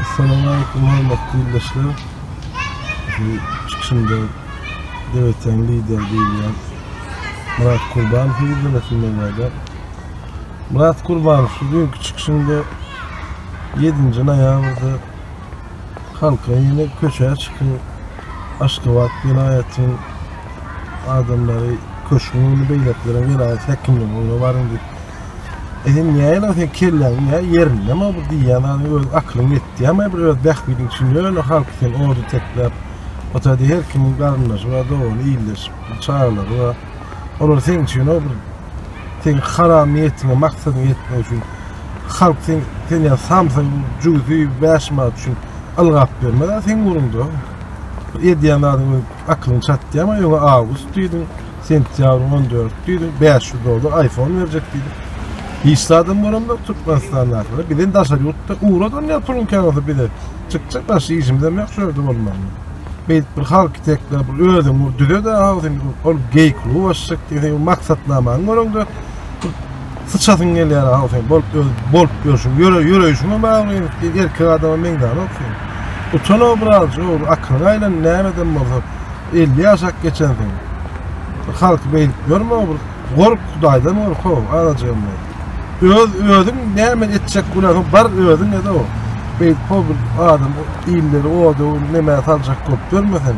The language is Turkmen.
Assalamualeýkum hormatly ildeşler. Bu çykyşymda Döwletden lider diýilýän Murat Kurban hüýrlemesini meňzäde. Murat Kurban şu günki çykyşynda 7-nji noýabrda halka ýene köçä çykyň, Aşgabat welaýatyň adamlary köşgüň öňüne beýlekileriň welaýat häkimliginiň öňüne baryň diýip E sen näýe lan sen kelläň ýa ýerinde mi bu diýýän zady öz aklyň ýetýärmi bir öz bähbidiň üçin ýöne halky sen orda tekläp otady her kimiň garyndaşy bar dogany illeşip çagalary bar olar seň üçin o bir seň haram niýetiňe maksadyňa ýetmek üçin halk sen sen ýa samsyk jügüsi bäş manat üçin ylgap bermez a seň ugrunda edýän zadyň aklyň çatýarmy öňe awgust diýdiň Sentýabryň on dördüdür, bäş ýüz dollar aýfon berjek diýdi. Hiç zadam bolamok Türkmenistandakylar. Bizden daşary ýurtda ugradam ýa puluň kän bolsa bize çykjak başga işimizem ýok şu ýerde bolmagyna. Beýdip bir halky tekläp bir özüň ur düzede agzyny ur ol geý kluby açjak diýseň bu maksatnamaňy göreňde syçasyň gelýär aw sen bolup öz bolup ýörşüň ýöre ýöreýşiňe bagly indi erkek adama meňzänok sen. Utan obrazjy ur akylyňy aýlan näme edem bolsa. 50 ýaşap geçensiň. Bir halky beýdip ýörme, bir gork Hudaýdan gork ho, anajygym diýip. Öz özüň näme etjek günäň bar özüň ede o. Beýdip ho bir adam illeri oda neme saljak bolup ýörme sen.